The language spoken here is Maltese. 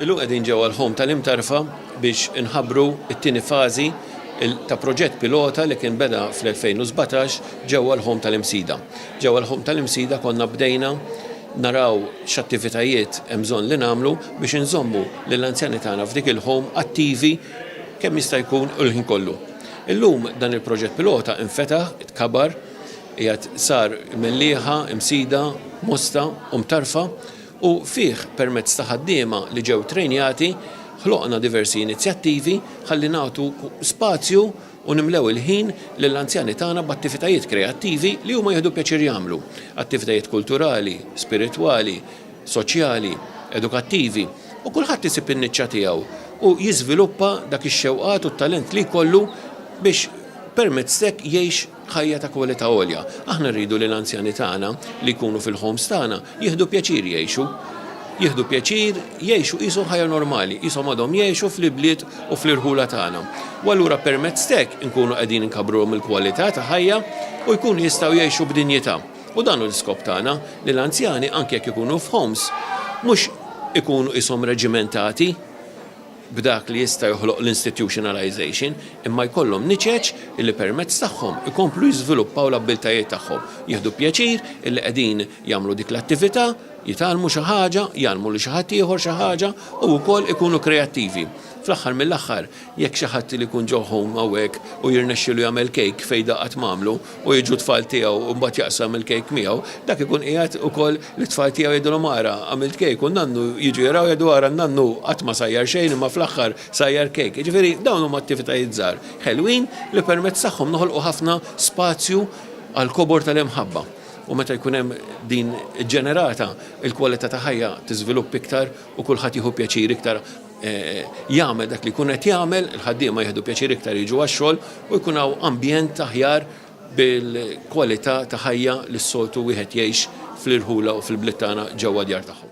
Illum qegħdin ġewwa l-ħom tal-Imtarfa biex inħabbru t-tieni fażi ta' proġett pilota li kien beda fl-2017 ġewwa l-ħom tal-Imsida. Ġewwa l-ħom tal-Imsida konna bdejna naraw x'attivitajiet hemm bżonn li nagħmlu biex inżommu lill-anzjani tagħna f'dik il-ħom attivi kemm jista' jkun il-ħin kollu. Illum dan il-proġett pilota infetaħ, tkabar, Qiegħed sar mellieħa, imsida, mosta u mtarfa u fih permezz ta' ħaddiema li ġew trejnjati ħloqna diversi inizjattivi ħalli nagħtu spazju u nimlew il-ħin lill-anzjani tagħna b'attivitajiet kreattivi li huma jieħdu pjaċir jagħmlu, attivitajiet kulturali, spiritwali, soċjali, edukattivi u kulħadd isib in-niċċa tiegħu u jiżviluppa dak ix-xewqat u t-talent li jkollu biex permezz t'hekk jgħix Ħajja ta' kwalità għolja. Aħna rridu li l-anzjani tagħna li jkunu fil-homes tagħna jieħdu pjaċir jgħixu. Jieħdu pjaċir jgħixu qisu ħajja normali, qishom għadhom jgħixu fl-ibliet u fl-irħula tagħna. U allura permezz t'hekk inkunu qegħdin inkabbruhom il-kwalità ta' ħajja u jkunu jistgħu jgħixu b'dinjità. U dan hu l-iskop tagħna, li l-anzjani anki jekk ikunu f'homes, mhux ikunu qishom reġimentati. b'dak li jista' joħloq l-institutionalization, imma jkollhom niċeċ illi permezz tagħhom ikomplu jiżviluppaw l-abbiltajiet tagħhom, jieħdu pjaċir illi qegħdin jagħmlu dik l-attività, jitgħallmu xi ħaġa, jgħallmu lil xi ħadd ieħor xi ħaġa u wkoll ikunu kreattivi. Fl-aħħar mill-aħħar, jekk xi ħadd li jkun ġo home hawnhekk u jirnexxilu jagħmel cake fejda qatt m'għamlu, u jiġu t-tfal tiegħu u mbagħad jaqsam il-kejk miegħu, dak ikun qiegħed ukoll li t-tfal tiegħu jgħidulhom ara għamilt kejk u n-nannu jiġu jaraw jgħidu ara n-nannu qatt ma sajjar xejn imma fl-aħħar sajjar kejk. Jiġifieri dawn huma attivitajiet żgħar ħelwin li permezz tagħhom noħolqu ħafna spazju għall-kobor tal-imħabba u meta jkun hemm din ġenerata il-kwalità ta' ħajja tiżvilupp iktar u kulħadd jieħu pjaċir iktar jagħmel dak li jkun qed jagħmel, il-ħaddiema jieħdu pjaċir iktar jiġu għax-xogħol u jkun hawn ambjent aħjar bil-kwalità ta' ħajja li s-soltu wieħed jgħix fl-irħula u fil-bliet tagħna ġewwa d-djar tagħhom.